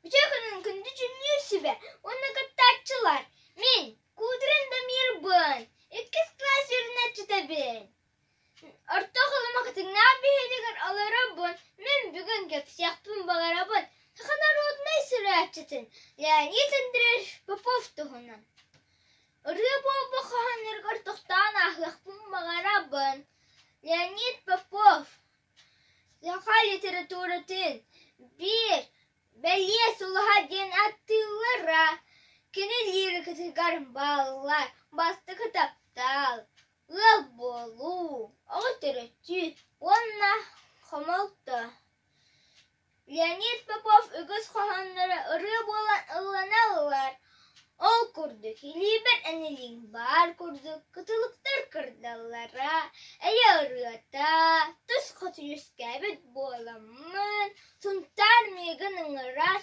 Бүтүн күнүн күндү дьүмнүүсүбэ уонна кыттааччылар Мин куутуран Дамирбын иккис кылаас үөрэнээччитэбин Орто Халыма кытыннаах биһиэтигэр олоробун Мин бүгүн кэпсиэхпин баҕарабын саха норуодунай суруйааччытын Леонид Андреевич Попов туһунан Ырыа буолбут хоһооннорго ортоктоон ааһыахпын баҕарабын Леонид Попов Саха литературатын биир «Бэлиэ сулуһа» диэн аттыыллара кини лирикатыгар бааллар бастакы таптал, ыал буолуу, оҕо төрөтүү уонна хомолто Леонид Попов үгүс хоһоонноро ырыа буолан ыллана ылар, ол курдук илиибэр эн илииҥ баар курдук кытылыктар кырдаллара, эйэ ырыата, тус хос үөскээбит буоламмын, Сунтаар миигин ыҥырар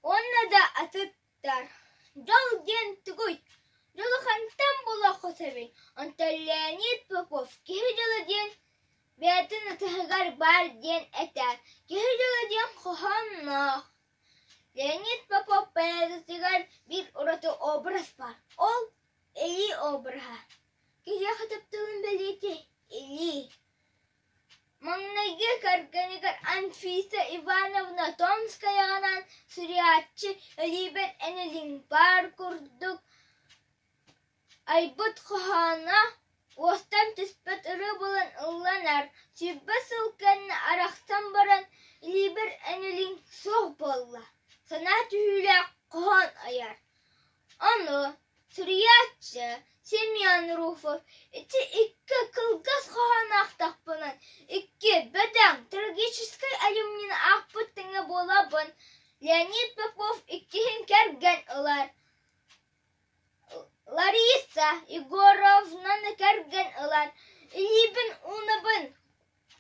уонна да атын Дьол диэн тугуй? Дьулухантан булуохха сөбүй? Онтон Леонид Попов киһи дьоло диэн бэйэтин ытыһыгар баар диэн этэр. Киһи дьоло диэн хоһоонноох. Леонид Попов поэзиятыгар биир ураты образ баар. Ол илии обраһа. Киһиэхэ таптылын бэлиэтиир илии. Маҥнайгы кэргэнигэр Анфиса Ивановна Томскаяҕынан суруйааччы Элиибэт Энэлиҥ баар курдук айбыт хоһооно уостан түспэт ырыа буолан ылланар, сүүрбэ сыл кэннэ арахсан баран Элиибэт Энэлиҥ суох буолла, санаа түһүүлээх хоһоон айар Ону суруйааччы Семен Руфов ити-икки кылгас хоһоонноохтохпуна икки бөдөҥ трагическай айымньыны аахпыт тэҥэ буолабын Леонид Попов иккиһин кэргэн ылар Лариса Егоровнаны кэргэн ылар илиибин уунабын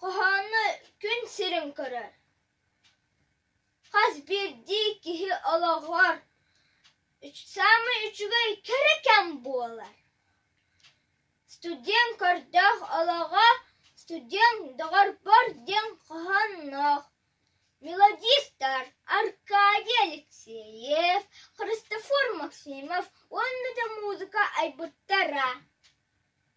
хоһооно күн сирин көрөр Хас биирдии киһи олоҕор саамай үчүгэй кэрэ кэм буолар. Студент көрдөөх олоҕо студент доҕорбор диэн хоһоонноох мелодистар Аркадий Алексеев, Христофор Максимов уонна да музыка айбыттара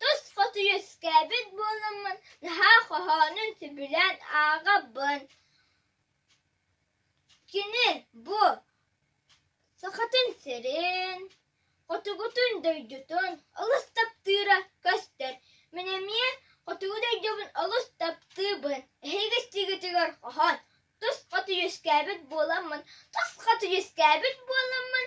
Тус хоту үөскээбит буолуммун наһаа хоһоонун сөбүлээн ааҕабын Кини бу Сахатын сирин, хотугутун дойдутун олус таптыыра көстөр. Мин эмиэ хотугу дойдубун олус таптыыбын. Эһиги стигитигэр хоһоон тус хоту үөскээбит буоламмын, тус хоту үөскээбит буоламмын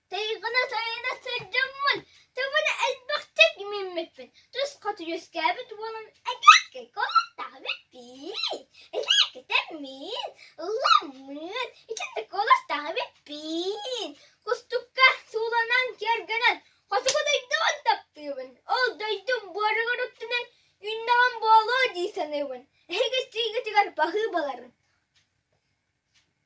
Тайҕына сайына сылдьаммын туман элбэхтик миммиппин туспа түһүскээбит уонун элэккэй куоластаабыт пии элэккитэммин ылламмын итинник куоластаабыт пии кустукка сууланан киэргэнэн хотугу дойдубун таптыыбын ол дойдум буоругар уттунан үүннэҕин буолуо дии саныыбын эһиги сиигитигэр баһыы баларын